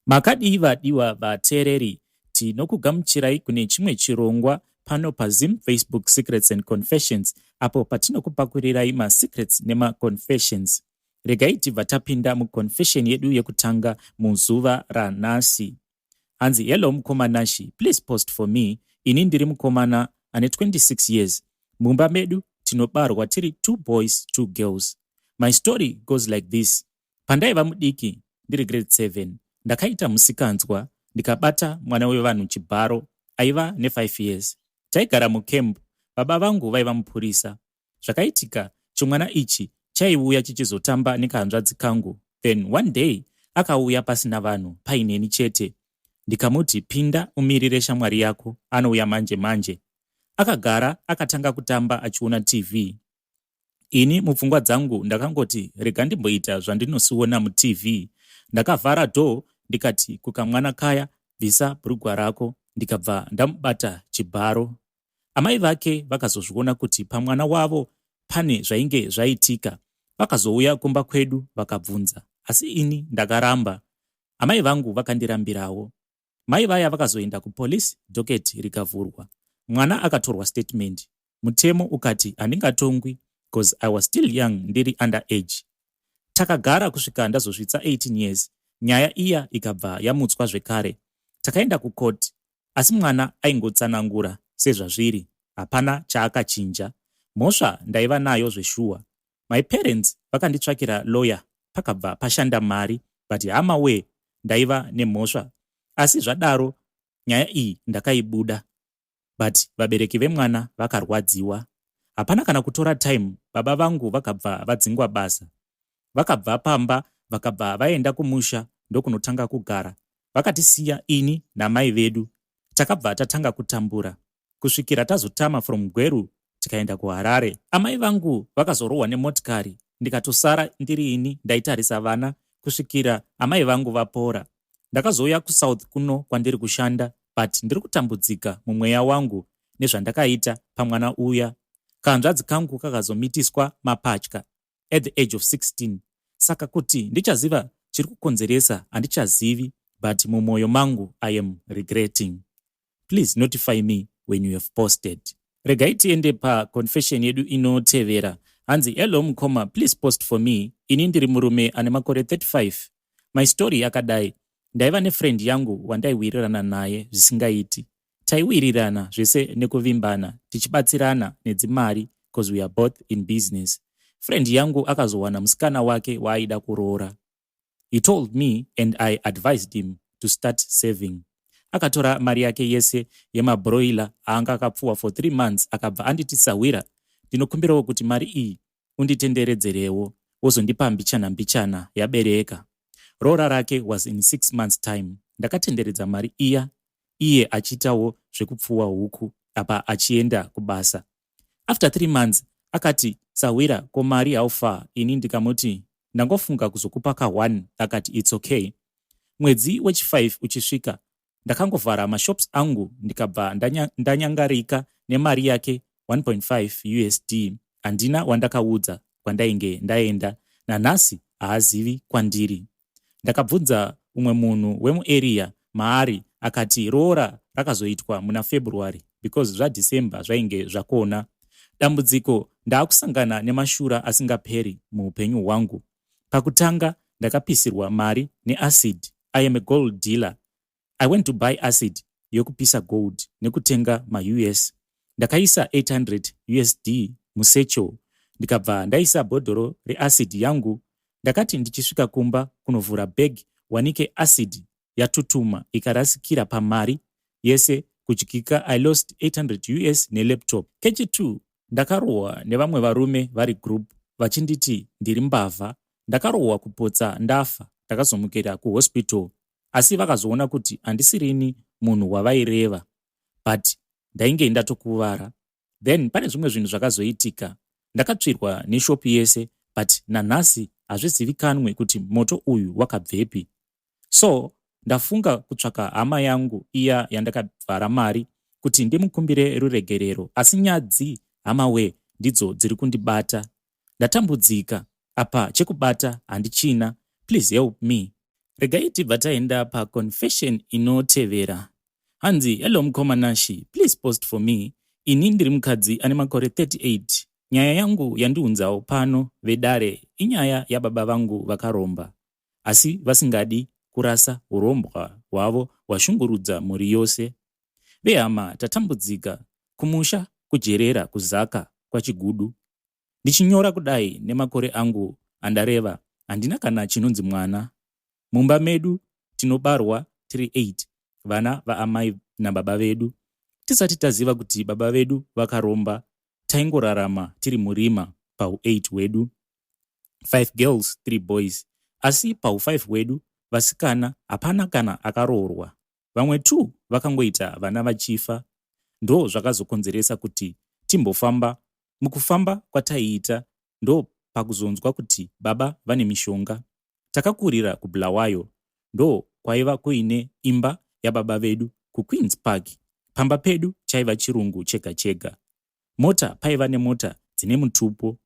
Makadii vadiwa vateereri, tinokugamuchirai kune chimwe chirongwa pano paZim Facebook Secrets and Confessions apo patinokupakurirayi masecrets nemaconfessions. Regai tibva tapinda muconfession yedu yekutanga muzuva ranhasi. Hanzi hello mukoma Nashi, please post for me. Ini ndiri mukomana ane 26 years. Mumba medu tinobarwa tiri two boys two girls. My story goes like this. Pandaiva mudiki ndiri grade 7 ndakaita musikanzwa ndikabata mwana wevanhu chibharo aiva ne5 years. Taigara mucamp baba vangu vaiva mupurisa. Zvakaitika chimwana ichi chaiuya chichizotamba nekahanzvadzi kangu then one day akauya pasina vanhu paineni chete ndikamuti pinda umirire shamwari yako anouya manje manje akagara akatanga kutamba achiona tv Ini mupfungwa dzangu ndakangoti rega ndimboita zvandinosiona muTV. Ndakavhara door ndikati kukamwana kaya bvisa brugwa rako ndikabva ndamubata chibharo. Amai vake vakazozviona kuti pamwana wavo pane zvainge zvaitika. Vakazouya kumba kwedu vakabvunza asi ini ndakaramba. Amai vangu vakandirambirawo. Mai vaya vakazoenda kupolice docket rikavhurwa. Mwana akatorwa statement. Mutemo ukati handingatongwi cause I was still young ndiri under age. Takagara kusvika ndazosvitsa 18 years nyaya iya ikabva yamutswa zvekare. Takaenda kucourt asi mwana aingotsanangura sezvazviri hapana chaakachinja. Mhosva ndaiva nayo zveshuwa My parents vakanditsvakira lawyer pakabva pashanda mari but hama wee ndaiva nemhosva asi zvadaro nyaya iyi ndakaibuda but vabereki vemwana vakarwadziwa hapana kana kutora time baba vangu vakabva vadzingwa basa vakabva pamba vakabva vaenda kumusha ndokunotanga kugara vakatisiya ini namai vedu takabva tatanga kutambura kusvikira tazotama from Gweru tikaenda kuHarare. Amai vangu vakazorohwa nemotikari ndikatosara ndiri ini ndaitarisa vana kusvikira amai vangu vapora. Ndakazouya kuSouth kuno kwandiri kushanda but ndiri kutambudzika mumweya wangu nezvandakaita pamwana uya. Kahanzvadzi kangu kakazomitiswa mapatya. at the age of 16 saka kuti ndichaziva chiri kukonzeresa handichazivi but mumwoyo mangu i am regretting please notify me when you have posted regai tiende paconfession yedu inotevera hanzi hello mukoma please post for me ini ndiri murume ane makore 35 my story yakadai ndaiva nefriend yangu wandaiwirirana naye zvisingaiti taiwirirana zvese nekuvimbana tichibatsirana nedzimari cause we are both in business friend yangu akazowana musikana wake waaida kuroora he told me and i advised him to start saving akatora mari yake yese yemabroiler aanga akapfuwa for three months akabva anditi sahwira ndinokumbirawo kuti mari iyi unditenderedzerewo wozondipa mbichana mbichana yabereka roora rake was in six months time ndakatenderedza mari iya iye achiitawo zvekupfuwa huku apa achienda kubasa after three months akati sahwira ko mari how far ini ndikamuti ndangofunga kuzokupa ka one akati its okay mwedzi wechi-five uchisvika ndakangovhara mashops angu ndikabva ndanya, ndanyangarika nemari yake 1.5 usd handina wandakaudza kwandainge ndaenda nanhasi haazivi kwandiri ndakabvunza umwe munhu wemuarea maari akati roora rakazoitwa muna february because zvadecember zvainge zvakona dambudziko ndaakusangana nemashura asingaperi muupenyu hwangu Pakutanga ndakapisirwa mari neacid. I am a gold dealer. I went to buy acid yokupisa gold nekutenga maUS. Ndakaisa 800 USD musecho ndikabva ndaisa bhodhoro reacid yangu. Ndakati ndichisvika kumba kunovhura bag wanike acid yatutuma ikarasikira pamari yese kudyika i lost 800 us nelaptop kechitu ndakarohwa nevamwe varume vari group vachinditi ndiri mbavha ndakarohwa kupotsa ndafa ndakazomukira kuhospital asi vakazoona kuti handisirini munhu wavaireva but ndainge ndatokuvara then pane zvimwe zvinhu zvakazoitika ndakatsvirwa neshop yese but nanhasi hazvizivikanwe kuti moto uyu wakabvepi so ndafunga kutsvaka hama yangu iya yandakavhara mari kuti ndimukumbire ruregerero asi nyadzi hama wee ndidzo dziri kundibata ndatambudzika apa chekubata handichina please help me. Regai tibva taenda paconfession inotevera. Hanzi hello mukoma Nashi please post for me ini ndiri mukadzi ane makore 38 nyaya yangu yandiunzawo pano vedare inyaya yababa vangu vakaromba asi vasingadi kurasa urombwa hwavo hwashungurudza mhuri yose vehama tatambudzika kumusha kujerera kuzaka kwachigudu Ndichinyora kudai nemakore angu andareva handina kana chinonzi mwana. Mumba medu tinobarwa tiri 8 vana vaamai nababa vedu. Tisati taziva kuti baba vedu vakaromba taingorarama tiri murima pahu 8 hwedu. 5 girls 3 boys asi pahu 5 hwedu vasikana hapana kana akaroorwa. vamwe two vakangoita vana vachifa ndo zvakazokonzeresa kuti timbofamba mukufamba kwataiita ndo pakuzonzwa kuti baba vane mishonga takakurira kubulawayo ndo kwaiva kuine imba yababa vedu kuqueens park pamba pedu chaiva chirungu chega chega Mota paiva nemota dzine mutupo.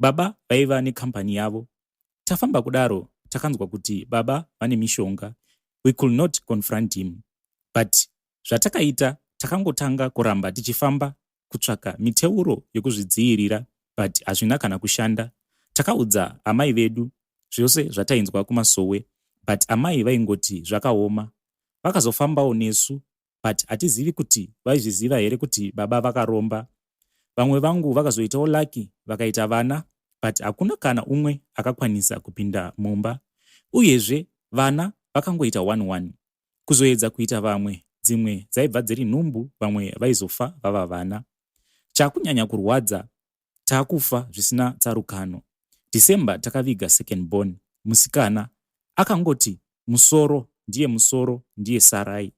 Baba vaiva nekambani yavo. Tafamba kudaro takanzwa kuti baba vane mishonga. We could not confront him but zvatakaita takangotanga kuramba tichifamba kutsvaka miteuro yekuzvidziirira but hazvina kana kushanda. Takaudza amai vedu zvose zvatainzwa kumasowe but amai vaingoti zvakaoma. Vakazofambawo nesu but hatizivi kuti vaizviziva here kuti baba vakaromba vamwe vangu vakazoitawo lucky vakaita vana but hakuna kana umwe akakwanisa kupinda mumba uyezve vana vakangoita one one kuzoedza kuita vamwe dzimwe dzaibva dziri nhumbu vamwe vaizofa vava vana chakunyanya kurwadza takufa zvisina tsarukano. December takaviga second born musikana akangoti musoro ndiye musoro ndiye sarai.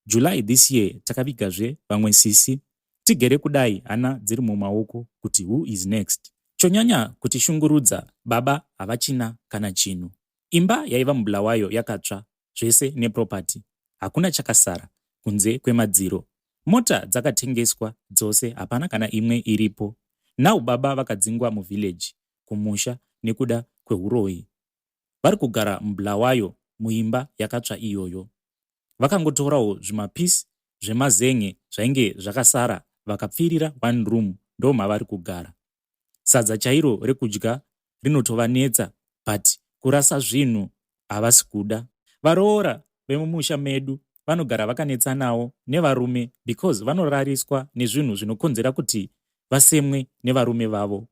July this year takavigazve vamwe sisi tigere kudai hana dziri mumaoko kuti who is next. Chonyanya kutishungurudza baba havachina kana chinhu. Imba yaiva muBulawayo yakatsva zvese neproperty hakuna chakasara kunze kwemadziro. Mota dzakatengeswa dzose hapana kana imwe iripo. Now baba vakadzingwa muvillage kumusha nekuda kwehuroyi. Vari kugara muBulawayo muimba yakatsva iyoyo. Vakangotorawo zvimapiece zvemazen'e zvainge zvakasara vakapfirira one room ndomavari kugara. sadza chairo rekudya rinotovanetsa but kurasa zvinhu havasi kuda. Varoora vemumusha medu vanogara vakanetsanawo nevarume because vanorariswa nezvinhu zvinokonzera kuti vasemwe nevarume vavo.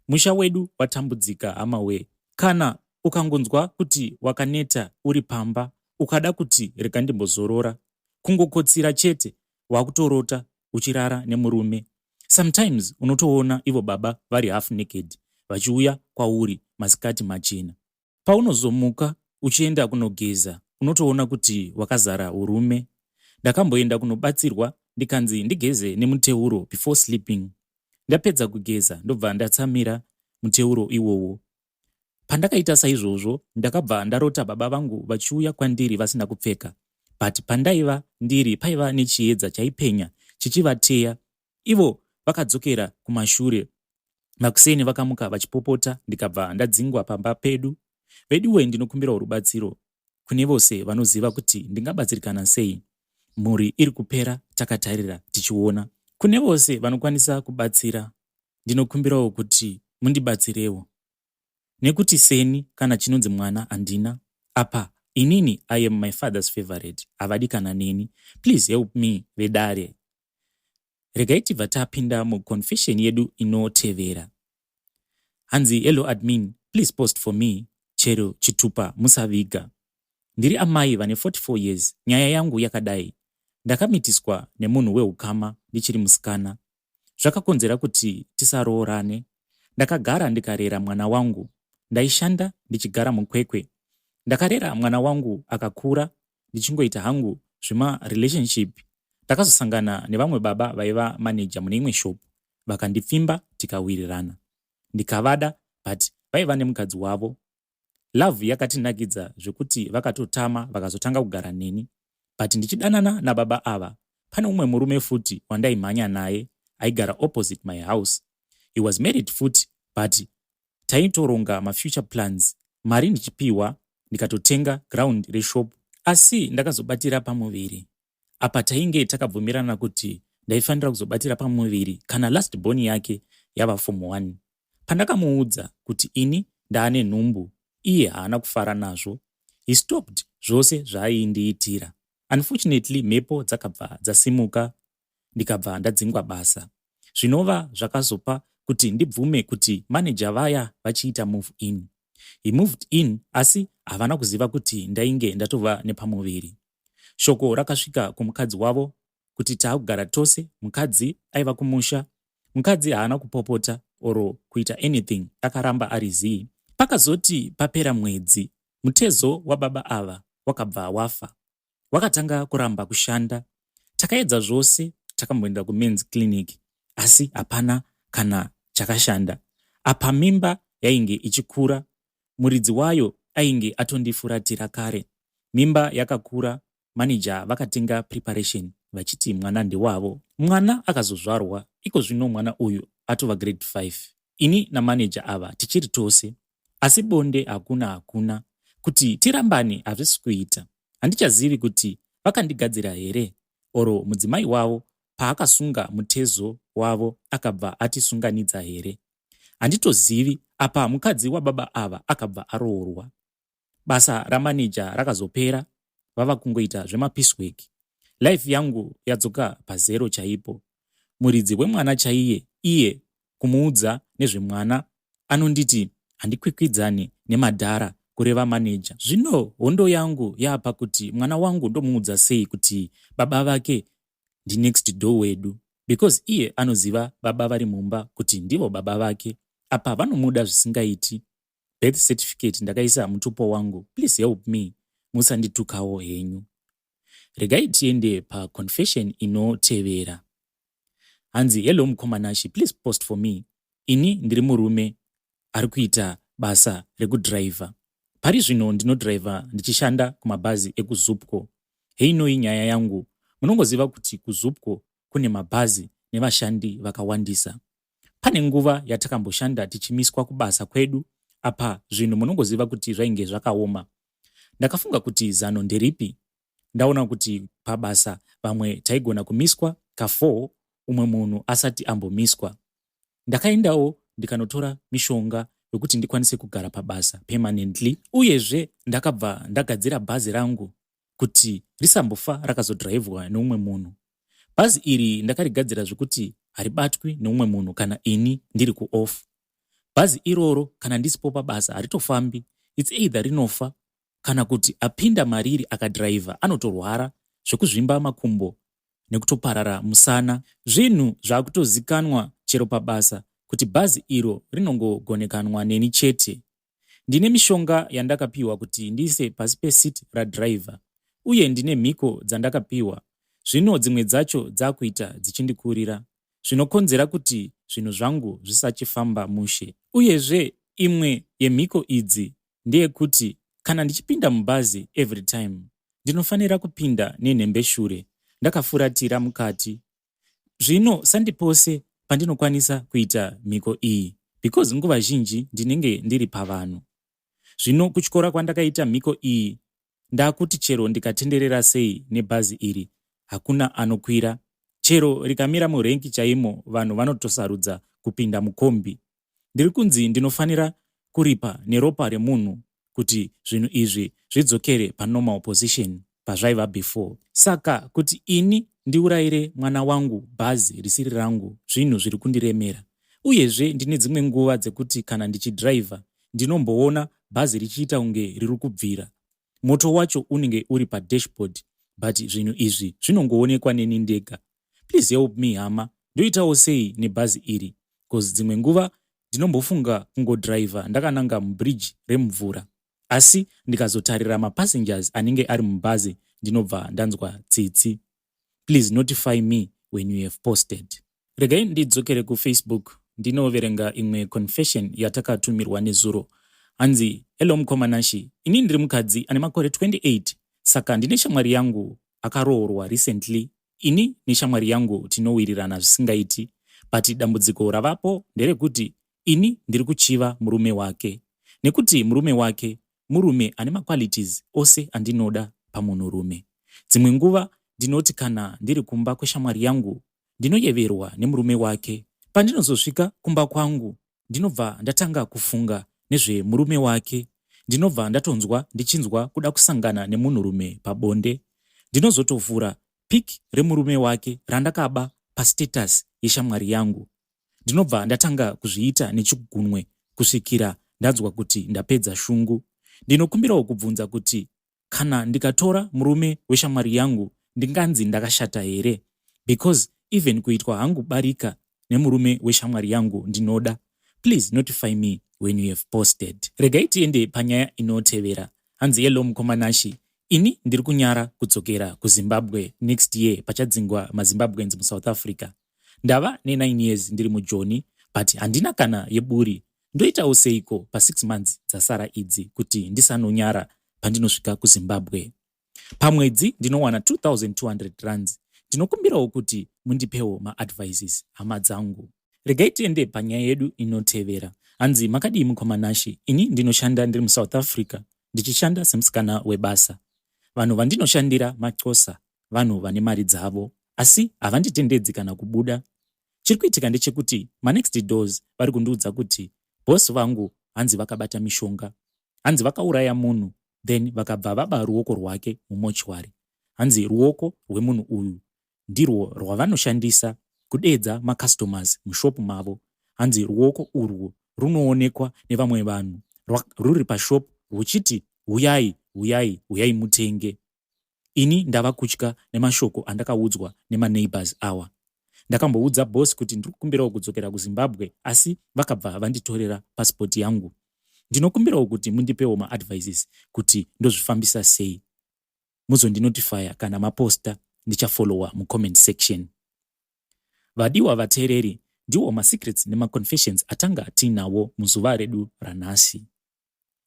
Musha wedu watambudzika hamawee. Kana ukangonzwa kuti wakaneta uri pamba ukada kuti rega ndimbozorora, kungokotsira chete wakutorota uchirara nemurume sometimes unotoona ivo baba vari half naked vachiuya kwauri masikati machena paunozomuka uchienda kunogeza unotoona kuti wakazara urume ndakamboenda kunobatsirwa ndikanzi ndigeze nemuteuro before sleeping ndapedza kugeza ndobva ndatsamira muteuro iwowo Pandakaita saizvozvo ndakabva ndarota baba vangu vachiuya kwandiri vasina kupfeka but pandaiva ndiri paiva nechiedza chaipenya chichivateya ivo vakadzokera kumashure makuseni vakamuka vachipopota ndikabva ndadzingwa pamba pedu veduwe ndinokumbirawo rubatsiro kune vose vanoziva kuti ndingabatsirikana sei mhuri iri kupera takatarira tichiona kune vose vanokwanisa kubatsira ndinokumbirawo kuti mundibatsirewo nekuti seni kana chinonzi mwana handina apa inini i am my father's favorite havadi kana neni please help me vedare regai tibva tapinda muconfession yedu inotevera hanzi hello admin please post for me chero chitupa musaviga ndiri amai vane 44 years nyaya yangu yakadai ndakamitiswa nemunhu weukama ndichiri musikana zvakakonzera kuti tisaroorane. Ndakagara ndikarera mwana wangu. Ndaishanda ndichigara muKwekwe. Ndakarera mwana wangu akakura ndichingoita hangu zvema relationship. Ndakazosangana nevamwe baba vaiva manager mune imwe shop vakandipfimba tikawirirana. Ndikavada but vaiva nemukadzi wavo Love yakatinakidza zvekuti vakatotama vakazotanga kugara neni but ndichidanana nababa ava pane umwe murume futi wandaimhanya naye aigara opposite my house he was married futi but taitoronga mafuture plans mari ndichipiwa ndikatotenga ground reshop asi ndakazobatira pamuviri apa tainge takabvumirana kuti ndaifanira kuzobatira pamuviri kana last born yake yava form 1 pandakamuudza kuti ini ndaane nhumbu iye haana kufara nazvo he stopped zvose zvaaiindiitira unfortunately mhepo dzakabva dzasimuka ndikabva ndadzingwa basa zvinova zvakazopa kuti ndibvume kuti maneja vaya vachiita move in he moved in asi havana kuziva kuti ndainge ndatova nepamuviri Shoko rakasvika kumukadzi wavo kuti taakugara tose, mukadzi aiva kumusha. Mukadzi haana kupopota or kuita anything akaramba ari zii. Pakazoti papera mwedzi mutezo wababa ava wakabva wafa. Wakatanga kuramba kushanda. Takaedza zvose takamboenda kumen's clinic asi hapana kana chakashanda. Apa mimba yainge ichikura muridzi wayo ainge atondifuratira kare. Mimba yakakura, manager vakatenga preparation vachiti mwana ndewavo. Mwana akazozvarwa, iko zvino mwana uyu atova grade 5. Ini namanager ava tichiri tose. Asi bonde hakuna hakuna. Kuti tirambane hazvisi kuita. Handichazivi kuti vakandigadzira here or mudzimai wavo paakasunga mutezo wavo akabva atisunganidza here. Handitozivi, apa mukadzi wababa ava akabva aroorwa. Basa ramaneja rakazopera vava kungoita zvemapeace work. Life yangu yadzoka pazero chaipo. Muridzi wemwana chaiye iye kumuudza nezvemwana anonditi handikwikwidzani nemadhara kureva maneja. Zvino hondo yangu yaapakuti mwana wangu ndomuudza sei kuti baba vake ndinext door wedu because iye anoziva baba vari mumba kuti ndivo baba vake apa vanomuda zvisingaiti birth certificate ndakaisa mutupo wangu please help me musanditukawo henyu regai tiende paconfession inotevera hanzi hello mukoma nashe please post for me ini ndiri murume ari kuita basa rekudhiraivha. Pari zvino ndinodhiraivha ndichishanda kumabhazi ekuZupco. Heinoi nyaya yangu. Munongoziva kuti kuZupco kune mabhazi nevashandi vakawandisa. Pane nguva yatakamboshanda tichimiswa kubasa kwedu apa zvinhu munongoziva kuti zvainge zvakaoma. Ndakafunga kuti zano nderipi? Ndaona kuti pabasa vamwe taigona kumiswa ka4 umwe munhu asati ambomiswa. Ndakaendawo ndikanotora mishonga yokuti ndikwanise kugara pabasa permanently uyezve ndakabva ndagadzira bhazi rangu kuti risambofa rakazodhiraivhwa neumwe munhu. Bhazi iri ndakarigadzira zvekuti haribatwi neumwe munhu kana ini ndiri kuoff. Bhazi iroro kana ndisipo pabasa haritofambi, its either rinofa kana kuti apinda mariri akadhiraivha anotorwara zvekuzvimba makumbo nekutoparara musana. Zvinhu zvakutozikanwa chero pabasa kuti bhazi iro rinongogonekanwa neni chete. Ndine mishonga yandakapihwa kuti ndiise pasi peseat radriver uye ndine mhiko dzandakapihwa zvino dzimwe dzacho dzakuita dzichindikurira zvinokonzera kuti zvinhu zvangu zvisachifamba mushe. Uyezve imwe yemhiko idzi ndeyekuti kana ndichipinda mubhazi every time ndinofanira kupinda nenhembeshure ndakafuratira mukati zvino sandi pose pandinokwanisa kuita mhiko iyi because nguva zhinji ndinenge ndiri pavanhu zvino kutyora kwandakaita mhiko iyi Ndakuti chero ndikatenderera sei nebhazi iri hakuna anokwira. Chero rikamira murenki chaimo vanhu vanotosarudza kupinda mukombi. Ndiri kunzi ndinofanira kuripa neropa remunhu kuti zvinhu izvi zvidzokere panormal position pazvaiva before. Saka kuti ini ndiurayire mwana wangu bhazi risiri rangu zvinhu zviri kundiremera. Uyezve ndine dzimwe nguva dzekuti kana ndichidhiraivha ndinomboona bhazi richiita kunge riri kubvira moto wacho unenge uri padashboard but zvinhu izvi zvinongoonekwa neni ndega please help me hama ndoitawo sei nebhazi iri bcause dzimwe nguva ndinombofunga kungodriver ndakananga mubridge remvura asi ndikazotarira mapassengers anenge ari mubhazi ndinobva ndanzwa tsitsi please notify me when you have posted regai ndidzokere kufacebook ndinoverenga imwe confession yatakatumirwa nezuro hanzi hello mukoma nashi ini ndiri mukadzi ane makore 28 saka ndine shamwari yangu akaroorwa recently ini neshamwari yangu tinowirirana zvisingaiti but dambudziko ravapo nderekuti ini ndiri kuchiva murume wake nekuti murume wake murume ane maqualities ose andinoda pamunhurume. Dzimwe nguva ndinoti kana ndiri kumba kweshamwari yangu ndinoyeverwa nemurume wake. Pandinozosvika kumba kwangu ndinobva ndatanga kufunga nezvemurume wake. Ndinobva ndatonzwa ndichinzwa kuda kusangana nemunhurume pabonde. Ndinozotovhura pic remurume wake randakaba pastatus yeshamwari yangu Ndinobva ndatanga kuzviita nechigunwe kusvikira ndanzwa kuti ndapedza shungu. Ndinokumbirawo kubvunza kuti kana ndikatora murume weshamwari yangu ndinganzi ndakashata here because even kuitwa hangu barika nemurume weshamwari yangu ndinoda please notify me when you have posted regai tiende panyaya inotevera hanzi hello mukomanashi ini ndiri kunyara kudzokera kuzimbabwe next year pachadzingwa mazimbabweans musouth africa Ndava ne9 years ndiri mujoni but handina kana yeburi ndoitawo seiko pa6 months dzasara idzi kuti ndisanonyara pandinosvika kuzimbabwe pamwedzi ndinowana 2200 rands ndinokumbirawo kuti mundipewo maadvices hama dzangu regai tiende panyaya yedu inotevera hanzi makadii mukoma nashe ini ndinoshanda ndiri musouth africa ndichishanda semusikana webasa vanhu vandinoshandira macosa vanhu vane mari dzavo asi havanditendedzi kana kubuda chiri kuitika ndechekuti manext doors vari kundiudza kuti bos vangu hanzi vakabata mishonga hanzi vakauraya munhu then vakabva vaba ruoko rwake mumochwari hanzi ruoko rwemunhu uyu ndirwo rwavanoshandisa kudeedza macustomers mushopu mavo hanzi ruoko urwo runoonekwa nevamwe vanhu ruri pashopu rwuchiti huyai huyai huyai mutenge Ini ndava kutya nemashoko andakaudzwa nemaneighbours awa. Ndakamboudza boss kuti ndiri kukumbirawo kudzokera kuZimbabwe asi vakabva vanditorera passport yangu. Ndinokumbirawo kuti mundipewo maadvices kuti ndozvifambisa sei. Muzondinotifaya kana maposta ndichafollowa mucomment section. Vadiwa vateereri, ndiwo masecrets nemaconfessions atanga tiinawo muzuva redu ranhasi.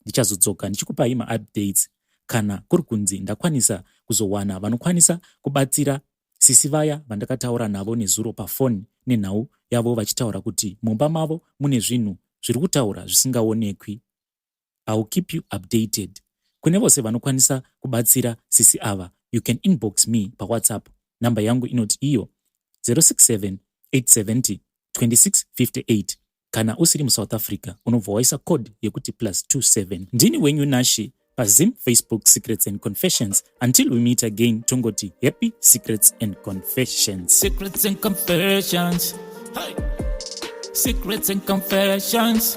Ndichazodzoka ndichikupai maupdates kana kuri kunzi ndakwanisa kuzowana vanokwanisa kubatsira sisi vaya vandakataura navo nezuro pafoni nenhau yavo vachitaura kuti mumba mavo mune zvinhu zviri kutaura zvisingaonekwi. I'll keep you updated. Kune vose vanokwanisa kubatsira sisi ava, you can inbox me paWhatsApp. Number yangu inoti iyo 067 870 2658. Kana usiri muSouth Africa unobva waisa code yekuti plus 27. Ndini wenyu Nashe paZim Facebook Secrets and Confessions. Until we meet again tongoti happy secrets and confessions. Secrets and confessions. Hey. Secrets and confessions.